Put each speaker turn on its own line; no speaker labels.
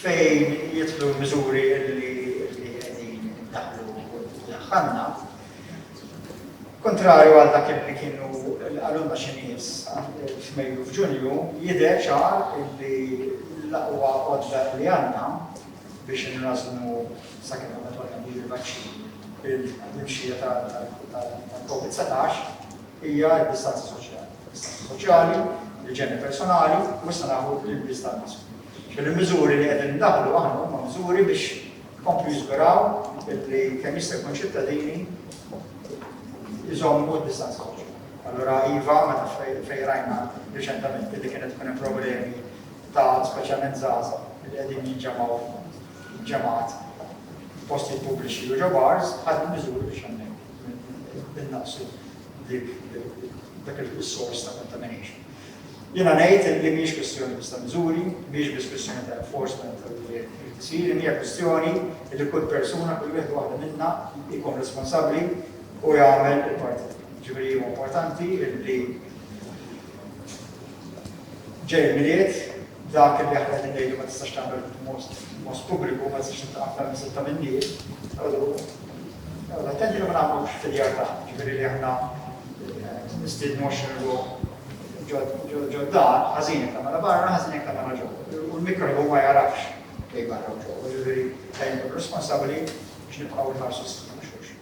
fejn jidħlu l-miżuri li qegħdin daħlu daħħalna. Kontrarju għal dak li kienu l-qalulna xi nies f'Mejju f'Ġunju, jidher ċar li l-aqwa għodda li għandna biex inrażnu sakemm ma tolna bi l-vaċċin il-mxija tal-COVID-19 hija d-distanza soċjali. Is-saħħa soċjali, l-iġene personali u issa nafu l-ilbies tal-mask. X'inhu l-miżuri li qegħdin indaħħlu aħna huma miżuri biex ikomplu jiżguraw li kemm jista' jkun ċittadini jżommu d-distanza soċjali. Allura iva meta fejn rajna riċentament li kienet tkun hemm problemi ta' speċjalment żgħażagħ li qegħdin jinġemgħu ġemgħat f'postijiet pubbliċi u ġo bars, ħadna miżuri biex hemmhekk. innaqsu dak il-sors ta' contamination. Jiena ngħid li mhijiex kwistjoni biss ta' miżuri, mhijiex biss kwistjoni ta' enforcement li trid isir, imma hija kwistjoni li kull persuna, kull wieħed u waħda minna jkun responsabbli u jagħmel il-parti tiegħu. Jiġifieri huwa importanti li ġej il-Milied dak li aħna qegħdin ngħidu ma tistax tagħmel b'mod pubbliku, ma tistax tintlaqa' aktar minn sitta min-nies, Noqgħodu attenti li ma nagħmlux filjartà, jiġifieri li aħna nistiednu għoxrin ruħ ġodda, ħażin jekk tagħmilha barra, ħażin jekk tagħmilha ġewwa. U l-mikrobu ma jagħrafx bejn barra u ġewwa, jiġifieri dejjem ikunu responsabbli biex nibqgħu nħarsu s-saħħa ta' xulxin.